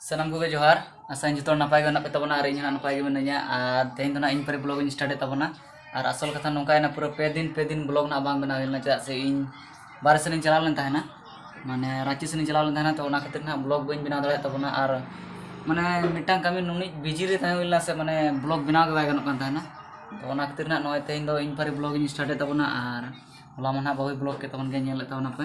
ᱥᱟᱱᱟᱢ ᱠᱚᱜᱮ ᱡᱚᱦᱟᱨ ᱟᱥᱟᱧ ᱡᱚᱛᱚ ᱦᱚᱲ ᱱᱟᱯᱟᱭ ᱜᱮ ᱢᱮᱱᱟᱜ ᱯᱮ ᱛᱟᱵᱚᱱᱟ ᱟᱨ ᱤᱧ ᱦᱚᱸ ᱱᱟᱯᱟᱭ ᱜᱮ ᱢᱤᱱᱟᱹᱧᱟ ᱟᱨ ᱛᱮᱦᱮᱧ ᱫᱚ ᱱᱟᱜ ᱤᱧ ᱯᱟᱹᱨᱤ ᱵᱞᱚᱜ ᱤᱧ ᱥᱴᱟᱨᱴ ᱮᱫ ᱛᱟᱵᱚᱱᱟ ᱟᱨ ᱟᱥᱚᱞ ᱠᱟᱛᱷᱟ ᱱᱚᱝᱠᱟᱭᱮᱱᱟ ᱯᱩᱨᱟᱹ ᱯᱮ ᱫᱤᱱ ᱯᱮ ᱫᱤᱱ ᱵᱞᱚᱜ ᱱᱟᱜ ᱵᱟᱝ ᱵᱮᱱᱟᱣ ᱦᱩᱭ ᱞᱮᱱᱟ ᱪᱮᱫᱟᱜ ᱥᱮ ᱤᱧ ᱵᱟᱨᱦᱮ ᱥᱮᱱᱤᱧ ᱪᱟᱞᱟᱣ ᱞᱮᱱ ᱛᱟᱦᱮᱱᱟ ᱢᱟᱱᱮ ᱨᱟᱺᱪᱤ ᱥᱮᱱᱤᱧ ᱪᱟᱞᱟᱣ ᱞᱮᱱ ᱛᱟᱦᱮᱱᱟ ᱛᱚ ᱚᱱᱟ ᱠᱷᱟᱹᱛᱤᱨ ᱱᱟᱜ ᱵᱞᱚᱜ ᱵᱟᱹᱧ ᱵᱮᱱᱟᱣ ᱫᱟᱲᱮᱭᱟᱜ ᱛᱟᱵᱚᱱᱟ ᱟᱨ ᱢᱟᱱᱮ ᱢᱤᱫᱴᱟᱝ ᱠᱟᱹᱢᱤ ᱱᱩᱱᱟᱹᱜ ᱵᱤᱡᱤ ᱨᱮ ᱛᱟᱦᱮᱸ ᱦᱩᱭ ᱞᱮᱱᱟ ᱥᱮ ᱢᱟᱱᱮ ᱵᱞᱚᱜ ᱵᱮᱱᱟᱣ ᱜᱮ ᱵᱟᱭ ᱜᱟᱱᱚᱜ ᱠᱟᱱ ᱛᱟᱦᱮᱱᱟ ᱛᱚ ᱚᱱᱟ ᱠᱷᱟᱹᱛᱤᱨ ᱱᱟᱜ ᱱᱚᱜᱼᱚᱭ ᱛᱮᱦᱮᱧ ᱫᱚ ᱤᱧ ᱯᱟᱹᱨᱤ ᱵᱞᱚᱜ ᱤᱧ ᱥᱴᱟᱨᱴ ᱮᱫ ᱛᱟᱵᱚᱱᱟ ᱟᱨ ᱦᱚᱞᱟ ᱢᱟ ᱱᱟᱜ ᱵᱟᱹᱦᱩᱭ ᱵᱞᱚᱜ ᱠᱮᱫ ᱛᱟᱵᱚᱱ ᱜᱮᱭᱟ ᱧᱮᱞ ᱞᱮᱫ ᱛᱟᱵᱚᱱᱟᱯᱮ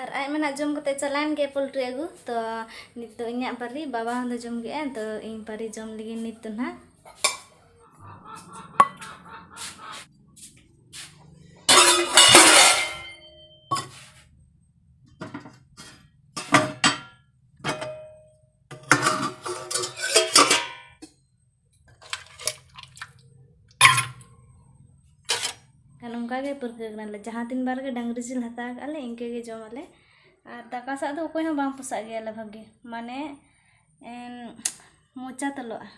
ᱟᱨ ᱟᱡ ᱢᱟ ᱱᱟᱦᱟᱜ ᱡᱚᱢ ᱠᱟᱛᱮᱫ ᱪᱟᱞᱟᱣᱮᱱ ᱜᱮᱭᱟᱭ ᱯᱳᱞᱴᱨᱤ ᱟᱹᱜᱩ ᱛᱚ ᱱᱤᱛ ᱫᱚ ᱤᱧᱟᱹᱜ ᱯᱟᱹᱨᱤ ᱵᱟᱵᱟ ᱦᱚᱸ ᱫᱚ ᱡᱚᱢ ᱠᱮᱫᱟᱭ ᱛᱚ ᱤᱧ ᱯᱟᱹᱨᱤ ᱡᱚᱢ ᱞᱟᱹᱜᱤᱫ ᱱᱤᱛ ᱫᱚ ᱱᱟᱦᱟᱜ ᱠᱷᱟᱱ ᱚᱱᱠᱟ ᱜᱮ ᱯᱟᱹᱨᱠᱟᱹᱣ ᱠᱟᱱᱟᱞᱮ ᱡᱟᱦᱟᱸ ᱛᱤᱱ ᱵᱟᱨ ᱜᱮ ᱰᱟᱝᱨᱤ ᱡᱤᱞ ᱦᱟᱛᱟᱣ ᱠᱟᱜᱼᱟ ᱞᱮ ᱤᱱᱠᱟᱹ ᱜᱮ ᱡᱚᱢ ᱟᱞᱮ ᱟᱨ ᱫᱟᱠᱟ ᱥᱟᱜ ᱫᱚ ᱚᱠᱚᱭ ᱦᱚᱸ ᱵᱟᱝ ᱯᱚᱥᱟᱜ ᱜᱮᱭᱟ ᱞᱮ ᱵᱷᱟᱜᱮ ᱢᱟᱱᱮ ᱢᱚᱪᱟ ᱛᱚᱞᱚᱜᱼᱟ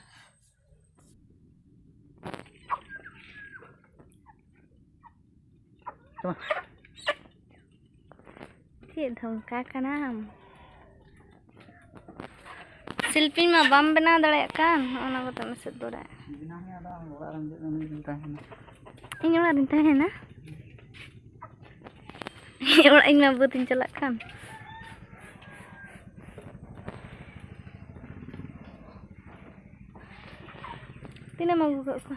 ᱪᱮᱫ ᱫᱷᱚᱢᱠᱟ ᱠᱟᱱᱟᱢ ᱥᱤᱞᱯᱤ ᱢᱟ ᱵᱟᱢ ᱵᱮᱱᱟᱣ ᱫᱟᱲᱮᱭᱟᱜ ᱠᱟᱱ ᱚᱱᱟ ᱠᱚᱛᱮ ᱢᱮᱥᱮᱫ ᱫᱚᱨᱟᱜ ᱤᱧ ᱚᱲᱟᱜ ᱨᱤᱧ ᱛᱟᱦᱮᱱᱟ ᱤᱧ ᱚᱲᱟᱜ ᱤᱧ ᱢᱟ ᱵᱟᱹᱫ ᱤᱧ ᱪᱟᱞᱟᱜ ᱠᱟᱱ ᱛᱤᱱᱟᱹᱜ ᱮᱢ ᱟᱹᱜᱩ ᱠᱟᱜ ᱠᱚᱣᱟ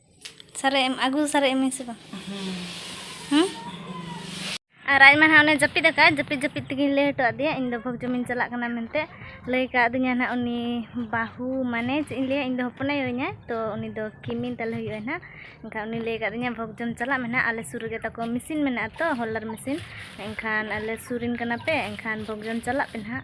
ᱥᱟᱨᱮᱡ ᱮᱢ ᱟᱹᱜᱩ ᱥᱟᱨᱮᱡ ᱮᱢᱟᱹᱧ ᱥᱮ ᱵᱟᱝ ᱦᱮᱸ ᱟᱨ ᱟᱡ ᱢᱟ ᱦᱟᱸᱜ ᱚᱱᱮ ᱡᱟᱹᱯᱤᱫ ᱟᱠᱟᱫ ᱡᱟᱹᱯᱤᱫ ᱡᱟᱹᱯᱤᱫ ᱛᱮᱜᱮᱧ ᱞᱟᱹᱭ ᱦᱚᱴᱚ ᱟᱫᱮᱭᱟ ᱤᱧ ᱫᱚ ᱵᱷᱳᱜᱽ ᱡᱚᱢᱤᱧ ᱪᱟᱞᱟᱜ ᱠᱟᱱᱟ ᱢᱮᱱᱛᱮ ᱞᱟᱹᱭ ᱠᱟᱣᱫᱤᱧᱟ ᱱᱟᱦᱟᱜ ᱩᱱᱤ ᱵᱟᱹᱦᱩ ᱢᱟᱱᱮ ᱪᱮᱫ ᱤᱧ ᱞᱟᱹᱭᱟ ᱤᱧ ᱫᱚ ᱦᱚᱯᱚᱱ ᱟᱭᱳᱧᱟ ᱛᱚ ᱩᱱᱤ ᱫᱚ ᱠᱤᱢᱤᱱ ᱛᱟᱞᱮ ᱦᱩᱭᱩᱜᱼᱟ ᱱᱟᱦᱟᱜ ᱮᱱᱠᱷᱟᱱ ᱩᱱᱤ ᱞᱟᱹᱭ ᱠᱟᱫᱤᱧᱟ ᱵᱷᱳᱜᱽ ᱡᱚᱢ ᱪᱟᱞᱟᱜ ᱢᱮ ᱱᱟᱦᱟᱜ ᱟᱞᱮ ᱥᱩᱨ ᱨᱮᱜᱮ ᱛᱟᱠᱚ ᱢᱮᱥᱤᱱ ᱢᱮᱱᱟᱜᱼᱟ ᱛᱚ ᱦᱚᱞᱟᱨ ᱢᱮᱥᱤᱱ ᱮᱱᱠᱷᱟᱱ ᱟᱞᱮ ᱥᱩᱨ ᱨᱮᱱ ᱠᱟᱱᱟ ᱯᱮ ᱮᱱᱠᱷᱟᱱ ᱵᱷᱳᱜᱽ ᱡᱚᱢ ᱪᱟᱞᱟᱜ ᱯᱮ ᱱᱟᱦᱟᱜ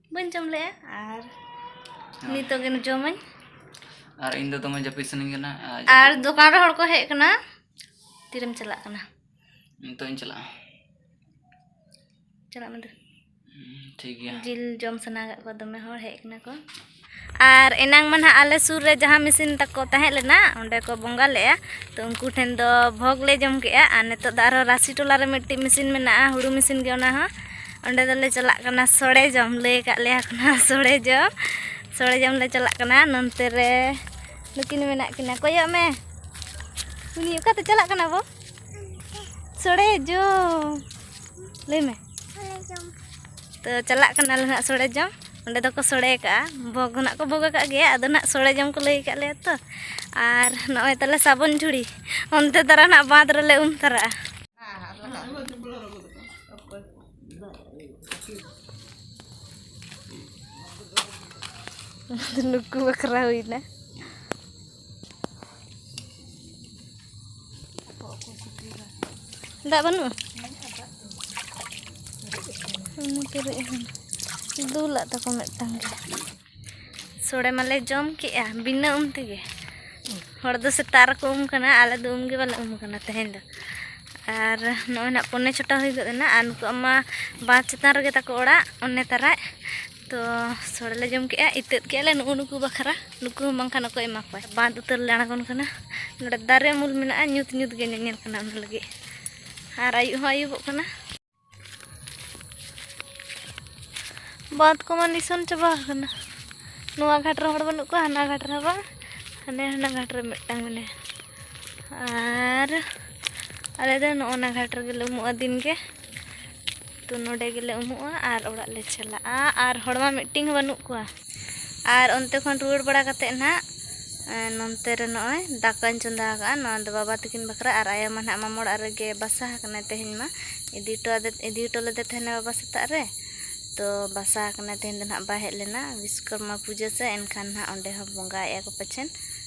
ᱵᱟᱹᱧ ᱡᱚᱢ ᱞᱮᱜᱼᱟ ᱟᱨ ᱱᱤᱛᱚᱜ ᱜᱮ ᱡᱚᱢᱟᱹᱧ ᱟᱨ ᱤᱧ ᱫᱚ ᱫᱚᱢᱮ ᱡᱟᱹᱯᱤᱫ ᱥᱟᱱᱟᱧ ᱠᱟᱱᱟ ᱟᱨ ᱫᱚᱠᱟᱱ ᱨᱮ ᱦᱚᱲ ᱠᱚ ᱦᱮᱡ ᱠᱟᱱᱟ ᱛᱤᱨᱮᱢ ᱪᱟᱞᱟᱜ ᱠᱟᱱᱟ ᱱᱤᱛᱚᱜ ᱤᱧ ᱪᱟᱞᱟᱜᱼᱟ ᱪᱟᱞᱟᱜ ᱢᱮ ᱫᱩ ᱴᱷᱤᱠ ᱜᱮᱭᱟ ᱡᱤᱞ ᱡᱚᱢ ᱥᱟᱱᱟ ᱠᱟᱜ ᱠᱚᱣᱟ ᱫᱚᱢᱮ ᱦᱚᱲ ᱦᱮᱡ ᱠᱟᱱᱟ ᱠᱚ ᱟᱨ ᱮᱱᱟᱝ ᱢᱟ ᱱᱟᱦᱟᱜ ᱟᱞᱮ ᱥᱩᱨ ᱨᱮ ᱡᱟᱦᱟᱸ ᱢᱤᱥᱤᱱ ᱛᱟᱠᱚ ᱛᱟᱦᱮᱸ ᱞᱮᱱᱟ ᱚᱸᱰᱮ ᱠᱚ ᱵᱚᱸᱜᱟ ᱞᱮᱫᱼᱟ ᱛᱚ ᱩᱱᱠᱩ ᱴᱷᱮᱱ ᱫᱚ ᱵᱷᱳᱜᱽ ᱞᱮ ᱡᱚᱢ ᱠᱮᱫᱼᱟ ᱟᱨ ᱱᱤᱛᱚᱜ ᱫᱚ ᱟᱨᱦᱚᱸ ᱨᱟᱥᱤ ᱴᱚᱞᱟ ᱨᱮ ᱢᱤᱫᱴᱤᱡ ᱢᱤᱥᱤᱱ ᱢᱮᱱᱟᱜᱼᱟ ᱦᱩᱲᱩ ᱢᱤᱥᱤᱱ ᱜᱮ ᱚᱱᱟ ᱦᱚᱸ ᱚᱸᱰᱮ ᱫᱚᱞᱮ ᱪᱟᱞᱟᱜ ᱠᱟᱱᱟ ᱥᱚᱲᱮ ᱡᱚᱢ ᱞᱟᱹᱭ ᱟᱠᱟᱫ ᱞᱮᱭᱟ ᱠᱚ ᱱᱟᱦᱟᱜ ᱥᱚᱲᱮ ᱡᱚᱢ ᱥᱚᱲᱮ ᱡᱚᱢ ᱞᱮ ᱪᱟᱞᱟᱜ ᱠᱟᱱᱟ ᱱᱚᱱᱛᱮ ᱨᱮ ᱱᱩᱠᱤᱱ ᱢᱮᱱᱟᱜ ᱠᱤᱱᱟ ᱠᱚᱭᱚᱜ ᱢᱮ ᱩᱱᱤ ᱚᱠᱟᱛᱮ ᱪᱟᱞᱟᱜ ᱠᱟᱱᱟ ᱵᱚ ᱥᱚᱲᱮ ᱡᱚᱢ ᱞᱟᱹᱭ ᱢᱮ ᱛᱚ ᱪᱟᱞᱟᱜ ᱠᱟᱱᱟᱞᱮ ᱦᱟᱸᱜ ᱥᱚᱲᱮ ᱡᱚᱢ ᱚᱸᱰᱮ ᱫᱚᱠᱚ ᱥᱚᱲᱮ ᱠᱟᱜᱼᱟ ᱵᱷᱚᱜᱽ ᱦᱚᱸ ᱱᱟᱜ ᱠᱚ ᱵᱷᱚᱜᱽ ᱠᱟᱜ ᱜᱮᱭᱟ ᱟᱫᱚ ᱱᱟᱜ ᱥᱚᱲᱮ ᱡᱚᱢ ᱠᱚ ᱞᱟᱹᱭ ᱠᱟᱜ ᱞᱮᱭᱟ ᱛᱚ ᱟᱨ ᱱᱚᱜᱼᱚᱭ ᱛᱟᱞᱮ ᱥᱟᱵᱚᱱ ᱡᱷᱩᱲᱤ ᱚᱱᱛᱮ ᱫᱟᱨᱟ ᱱᱟᱜ ᱵᱟᱸᱫᱽ ᱨᱮᱞᱮ ᱩᱢ ᱛᱟᱨᱟᱜᱼᱟ ᱱᱩᱠᱩ ᱵᱟᱠᱷᱨᱟ ᱦᱩᱭᱱᱟ ᱫᱟᱜ ᱵᱟᱹᱱᱩᱜᱼᱟ ᱩᱱᱤ ᱯᱮᱨᱮᱡ ᱟᱠᱟᱱᱟ ᱫᱩᱞᱟᱜ ᱛᱟᱠᱚ ᱢᱤᱫᱴᱟᱝ ᱜᱮ ᱥᱚᱲᱮ ᱢᱟᱞᱮ ᱡᱚᱢ ᱠᱮᱜᱼᱟ ᱵᱤᱱᱟᱹ ᱩᱢ ᱛᱮᱜᱮ ᱦᱚᱲ ᱫᱚ ᱥᱮᱛᱟᱜ ᱨᱮᱠᱚ ᱩᱢ ᱠᱟᱱᱟ ᱟᱞᱮ ᱫᱚ ᱩᱢ ᱜᱮ ᱵᱟᱞᱮ ᱩᱢ ᱠᱟᱱᱟ ᱛᱮᱦᱮᱧ ᱫᱚ ᱟᱨ ᱱᱚᱜᱼᱚᱭ ᱱᱟᱜ ᱯᱚᱱᱮ ᱪᱷᱚᱴᱟ ᱦᱩᱭ ᱜᱚᱫ ᱮᱱᱟ ᱟᱨ ᱱᱩᱠᱩᱣᱟᱜ ᱢᱟ ᱵᱟᱸᱫᱽ ᱪᱮᱛᱟᱱ ᱨᱮᱜᱮ ᱛᱟᱠᱚ ᱚᱲᱟᱜ ᱚᱱᱮ ᱛᱟᱨᱟᱡ ᱛᱚ ᱥᱚᱲᱮ ᱞᱮ ᱡᱚᱢ ᱠᱮᱜᱼᱟ ᱤᱛᱟᱹᱫ ᱠᱮᱜᱼᱟ ᱞᱮ ᱱᱩᱜᱩ ᱱᱩᱠᱩ ᱵᱟᱠᱷᱨᱟ ᱱᱩᱠᱩ ᱦᱚᱸ ᱵᱟᱝᱠᱷᱟᱱ ᱚᱠᱚᱭ ᱮᱢᱟ ᱠᱚᱣᱟ ᱵᱟᱸᱫ ᱩᱛᱟᱹᱨ ᱞᱮ ᱟᱬᱜᱚᱱ ᱠᱟᱱᱟ ᱱᱚᱰᱮ ᱫᱟᱨᱮ ᱩᱢᱩᱞ ᱢᱮᱱᱟᱜᱼᱟ ᱧᱩᱛ ᱧᱩᱛ ᱜᱮ ᱧᱮᱧᱮᱞ ᱠᱟᱱᱟ ᱚᱱᱟ ᱞᱟᱹᱜᱤᱫ ᱟᱨ ᱟᱹᱭᱩᱵ ᱦᱚᱸ ᱟᱹᱭᱩᱵᱚᱜ ᱠᱟᱱᱟ ᱵᱟᱸᱫ ᱠᱚᱢᱟ ᱱᱤᱥᱚᱱ ᱪᱟᱵᱟ ᱟᱠᱟᱱᱟ ᱱᱚᱣᱟ ᱜᱷᱟᱴ ᱨᱮ ᱦᱚᱲ ᱵᱟᱹᱱᱩᱜ ᱠᱚᱣᱟ ᱦᱟᱱᱟ ᱜᱷᱟᱴ ᱨᱮ ᱵᱟᱝ ᱦᱟᱱᱮ ᱦᱟᱱᱟ ᱜᱷᱟᱴ ᱨᱮ ᱢᱤᱫᱴᱟᱝ ᱢᱮᱱᱟᱭᱟ ᱟᱨ ᱟᱞᱮ ᱫᱚ ᱱᱚᱜᱼᱚ ᱱᱟ ᱜᱷᱟᱴ ᱨᱮᱜᱮ ᱞᱮ ᱩᱢᱩᱜᱼᱟ ᱫᱤᱱ ᱜᱮ ᱛᱚ ᱱᱚᱰᱮ ᱜᱮᱞᱮ ᱩᱢᱩᱜᱼᱟ ᱟᱨ ᱚᱲᱟᱜ ᱞᱮ ᱪᱟᱞᱟᱜᱼᱟ ᱟᱨ ᱦᱚᱲ ᱢᱟ ᱢᱤᱫᱴᱤᱝ ᱦᱚᱸ ᱵᱟᱹᱱᱩᱜ ᱠᱚᱣᱟ ᱟᱨ ᱚᱱᱛᱮ ᱠᱷᱚᱱ ᱨᱩᱣᱟᱹᱲ ᱵᱟᱲᱟ ᱠᱟᱛᱮ ᱱᱟᱦᱟᱜ ᱱᱚᱱᱛᱮ ᱨᱮ ᱱᱚᱜᱼᱚᱭ ᱫᱟᱠᱟᱧ ᱪᱚᱸᱫᱟ ᱟᱠᱟᱫᱼᱟ ᱱᱚᱣᱟ ᱫᱚ ᱵᱟᱵᱟ ᱛᱟᱹᱠᱤᱱ ᱵᱟᱠᱷᱨᱟ ᱟᱨ ᱟᱭᱳ ᱢᱟ ᱱᱟᱦᱟᱜ ᱢᱟᱢᱚ ᱚᱲᱟᱜ ᱨᱮᱜᱮ ᱵᱟᱥᱟ ᱟᱠᱟᱱᱟᱭ ᱛᱮᱦᱮᱧ ᱢᱟ ᱤᱫᱤ ᱦᱚᱴᱚ ᱟᱫᱮ ᱤᱫᱤ ᱦᱚᱴᱚ ᱞᱮᱫᱮ ᱛᱟᱦᱮᱱᱟ ᱵᱟᱵᱟ ᱥᱮᱛᱟᱜ ᱨᱮ ᱛᱚ ᱵᱟᱥᱟ ᱟᱠᱟᱱᱟᱭ ᱛᱮᱦᱮᱧ ᱫᱚ ᱱᱟᱦᱟᱜ ᱵᱟᱭ ᱦᱮᱡ ᱞᱮᱱᱟ ᱵᱤᱥᱥᱚᱠᱚᱨᱢᱟ ᱯᱩᱡᱟᱹ ᱥᱮ ᱮᱱᱠᱷᱟᱱ ᱱᱟᱦᱟᱜ ᱚᱸᱰᱮ ᱦᱚᱸ ᱵᱚᱸᱜᱟᱭᱮᱫᱼᱟ ᱠᱚ ᱯᱟᱪᱮᱫ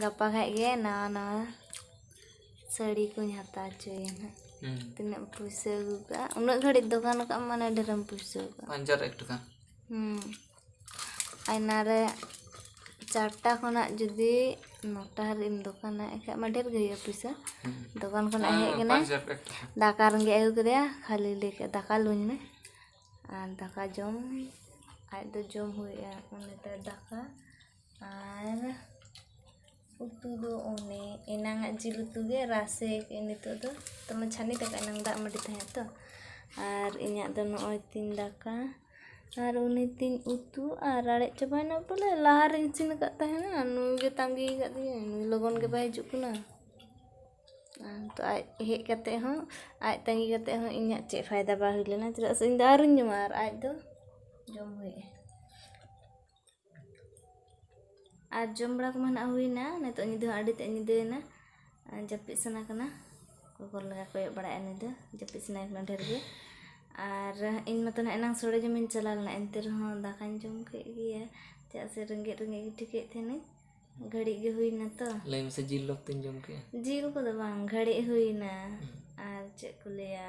ᱜᱟᱯᱟ ᱠᱷᱟᱡ ᱜᱮ ᱱᱟᱣᱟ ᱱᱟᱣᱟ ᱥᱟᱹᱲᱤ ᱠᱚᱧ ᱦᱟᱛᱟᱣ ᱦᱚᱪᱚᱭᱟ ᱱᱟᱜ ᱦᱩᱸ ᱛᱤᱱᱟᱹᱜ ᱮᱢ ᱯᱩᱭᱥᱟᱹ ᱟᱹᱜᱩ ᱠᱟᱜᱼᱟ ᱩᱱᱟᱹᱜ ᱜᱷᱟᱹᱲᱤᱡ ᱫᱚᱠᱟᱱ ᱠᱟᱜ ᱟᱢ ᱢᱟᱱᱮ ᱰᱷᱮᱨᱮᱢ ᱯᱩᱭᱥᱟᱹ ᱠᱟᱜᱼᱟ ᱯᱟᱸᱪᱟᱨ ᱮᱠ ᱴᱟᱠᱟ ᱦᱩᱸ ᱟᱭᱱᱟ ᱨᱮ ᱪᱟᱨᱴᱟ ᱠᱷᱚᱱᱟᱜ ᱡᱩᱫᱤ ᱱᱚᱴᱟ ᱦᱟᱹᱨᱤᱡ ᱮᱢ ᱫᱚᱠᱟᱱᱟ ᱮᱱᱠᱷᱟᱡ ᱢᱟ ᱰᱷᱮᱨ ᱜᱮ ᱦᱩᱭᱩᱜᱼᱟ ᱯᱩᱭᱥᱟᱹ ᱫᱚᱠᱟᱱ ᱠᱷᱚᱱᱟᱜ ᱦᱮᱡ ᱠᱟᱱᱟᱭ ᱯᱟᱸᱪᱟᱨ ᱮᱠ ᱴᱟᱠᱟ ᱫᱟᱠᱟ ᱨᱮᱸᱜᱮᱡ ᱟᱹᱜᱩ ᱠᱮᱫᱮᱭᱟ ᱠᱷᱟᱹᱞᱤ ᱞᱟᱹᱭ ᱠᱮᱫ ᱫᱟᱠᱟ ᱞᱩᱧ ᱢᱮ ᱟᱨ ᱫᱟᱠᱟ ᱡᱚᱢ ᱟᱡ ᱫᱚ ᱡᱚᱢ ᱦᱩᱭᱩᱜᱼᱟ ᱩᱱᱤ ᱫᱚ ᱫᱟᱠᱟ ᱟᱨ ᱩᱛᱩ ᱫᱚ ᱚᱱᱮ ᱮᱱᱟᱝ ᱟᱜ ᱡᱤᱞ ᱩᱛᱩ ᱜᱮ ᱨᱟᱥᱮ ᱠᱟᱜ ᱟᱹᱧ ᱱᱤᱛᱚᱜ ᱫᱚ ᱱᱤᱛᱚᱜ ᱢᱟ ᱪᱷᱟᱱᱤ ᱫᱟᱠᱟ ᱮᱱᱟᱝ ᱫᱟᱜ ᱢᱟᱹᱰᱤ ᱛᱟᱦᱮᱸᱜ ᱛᱚ ᱟᱨ ᱤᱧᱟᱹᱜ ᱫᱚ ᱱᱚᱜᱼᱚᱭ ᱛᱤᱧ ᱫᱟᱠᱟ ᱟᱨ ᱩᱱᱤ ᱛᱤᱧ ᱩᱛᱩ ᱟᱨ ᱨᱟᱲᱮᱡ ᱪᱟᱵᱟᱭᱮᱱᱟ ᱵᱚᱞᱮ ᱞᱟᱦᱟ ᱨᱤᱧ ᱤᱥᱤᱱ ᱟᱠᱟᱫ ᱛᱟᱦᱮᱱᱟ ᱱᱩᱭ ᱜᱮ ᱛᱟᱺᱜᱤ ᱠᱟᱫᱮᱭᱟᱹᱧ ᱱᱩᱭ ᱞᱚᱜᱚᱱ ᱜᱮ ᱵᱟᱭ ᱦᱤᱡᱩᱜ ᱠᱟᱱᱟ ᱟᱨ ᱱᱤᱛᱚᱜ ᱟᱡ ᱦᱮᱡ ᱠᱟᱛᱮ ᱦᱚᱸ ᱟᱡ ᱛᱟᱺᱜᱤ ᱠᱟᱛᱮ ᱦᱚᱸ ᱤᱧᱟᱹᱜ ᱪᱮᱫ ᱯᱷᱟᱭᱫᱟ ᱵᱟᱝ ᱦᱩᱭ ᱞᱮᱱᱟ ᱪᱮᱫᱟᱜ ᱥᱮ ᱤᱧ ᱫᱚ ᱟᱹᱣᱨᱤᱧ ᱡᱚᱢᱟ ᱟᱨ ᱟᱡ ᱫᱚ ᱡᱚᱢ ᱦᱩᱭ ᱟᱭᱟ ᱟᱨ ᱡᱚᱢ ᱵᱟᱲᱟ ᱠᱚᱢᱟ ᱱᱟᱜ ᱦᱩᱭᱱᱟ ᱱᱤᱛᱚᱜ ᱧᱤᱫᱟᱹ ᱦᱚᱸ ᱟᱹᱰᱤ ᱛᱮᱫ ᱧᱤᱫᱟᱹᱭᱮᱱᱟ ᱡᱟᱹᱯᱤᱫ ᱥᱟᱱᱟ ᱠᱟᱱᱟ ᱚᱠᱚᱭ ᱠᱚ ᱞᱮᱠᱟ ᱠᱚᱭᱚᱜ ᱵᱟᱲᱟᱭᱮᱫᱼᱟ ᱱᱩᱭ ᱫᱚ ᱡᱟᱹᱯᱤᱫ ᱥᱟᱱᱟᱭᱮ ᱠᱟᱱᱟ ᱰᱷᱮᱨ ᱜᱮ ᱟᱨ ᱤᱧ ᱢᱟᱛᱚ ᱱᱟᱜ ᱮᱱᱟᱝ ᱥᱚᱲᱮ ᱡᱚᱢᱤᱧ ᱪᱟᱞᱟᱣ ᱞᱮᱱᱟ ᱮᱱᱛᱮ ᱨᱮᱦᱚᱸ ᱫᱟᱠᱟᱧ ᱡᱚᱢ ᱠᱮᱫ ᱜᱮᱭᱟ ᱪᱮᱫᱟᱜ ᱥᱮ ᱨᱮᱸᱜᱮᱡ ᱨᱮᱸᱜᱮᱡ ᱜᱮ ᱴᱷᱤᱠᱟᱹᱭᱮᱫ ᱛᱟᱦᱮᱱᱟᱹᱧ ᱜᱷᱟᱹᱲᱤᱡ ᱜᱮ ᱦᱩᱭᱱᱟ ᱛᱚ ᱞᱟᱹᱭ ᱢᱮᱥᱮ ᱡᱤᱞ ᱞᱚᱯ ᱛᱤᱧ ᱡᱚᱢ ᱠᱮᱫᱼᱟ ᱡᱤᱞ ᱠᱚᱫᱚ ᱵᱟᱝ ᱜᱷᱟᱹᱲᱤᱡ ᱦᱩᱭᱱᱟ ᱟᱨ ᱪᱮᱫ ᱠᱚ ᱞᱟᱹᱭᱟ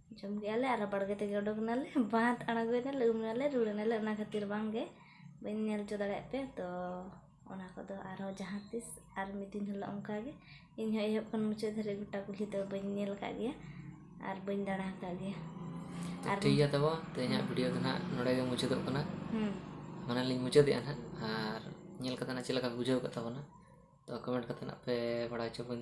ᱡᱚᱢ ᱠᱮᱜᱼᱟ ᱞᱮ ᱟᱨ ᱵᱟᱲᱜᱮ ᱛᱮᱜᱮ ᱩᱰᱩᱠ ᱮᱱᱟᱞᱮ ᱵᱟᱸᱫᱽ ᱟᱬᱜᱚᱭᱮᱱᱟᱞᱮ ᱩᱢ ᱮᱱᱟᱞᱮ ᱨᱩᱣᱟᱹᱲ ᱮᱱᱟᱞᱮ ᱚᱱᱟ ᱠᱷᱟᱹᱛᱤᱨ ᱵᱟᱝ ᱜᱮ ᱵᱟᱹᱧ ᱧᱮᱞ ᱦᱚᱪᱚ ᱫᱟᱲᱮᱭᱟᱜ ᱯᱮᱭᱟ ᱛᱚ ᱚᱱᱟ ᱠᱚᱫᱚ ᱟᱨᱦᱚᱸ ᱡᱟᱦᱟᱸ ᱛᱤᱥ ᱟᱨ ᱢᱤᱫ ᱫᱤᱱ ᱦᱤᱞᱳᱜ ᱚᱱᱠᱟ ᱜᱮ ᱤᱧ ᱦᱚᱸ ᱮᱦᱚᱵ ᱠᱷᱚᱱ ᱢᱩᱪᱟᱹᱫ ᱫᱷᱟᱹᱨᱤᱡ ᱜᱚᱴᱟ ᱠᱩᱞᱦᱤ ᱫᱚ ᱵᱟᱹᱧ ᱧᱮᱞ ᱟᱠᱟᱫ ᱜᱮᱭᱟ ᱟᱨ ᱵᱟᱹᱧ ᱫᱟᱬᱟ ᱟᱠᱟᱫ ᱜᱮᱭᱟ ᱟᱨ ᱴᱷᱤᱠ ᱜᱮᱭᱟ ᱛᱟᱵᱚ ᱛᱮᱦᱮᱧᱟᱜ ᱵᱷᱤᱰᱤᱭᱳ ᱫᱚ ᱱᱟᱦᱟᱜ ᱱᱚᱰᱮ ᱜᱮ ᱢᱩᱪᱟᱹᱫᱚᱜ ᱠᱟᱱᱟ ᱦᱮᱸ ᱢᱟᱱᱮ ᱞᱤᱧ ᱢᱩᱪᱟᱹᱫᱮᱜᱼᱟ ᱱᱟᱦᱟᱜ ᱟᱨ ᱧᱮᱞ ᱠᱟᱛᱮ ᱱᱟᱦᱟᱜ ᱪᱮᱫ ᱞᱮᱠᱟ ᱯᱮ ᱵᱩᱡᱷᱟᱹᱣ ᱠᱮᱫ ᱛᱟᱵᱚᱱᱟ ᱛᱚ ᱠᱚᱢᱮᱱᱴ ᱠᱟᱛᱮ ᱱᱟᱦᱟᱜ ᱯᱮ ᱵᱟᱲᱟᱭ ᱦᱚᱪᱚ ᱵᱚᱱ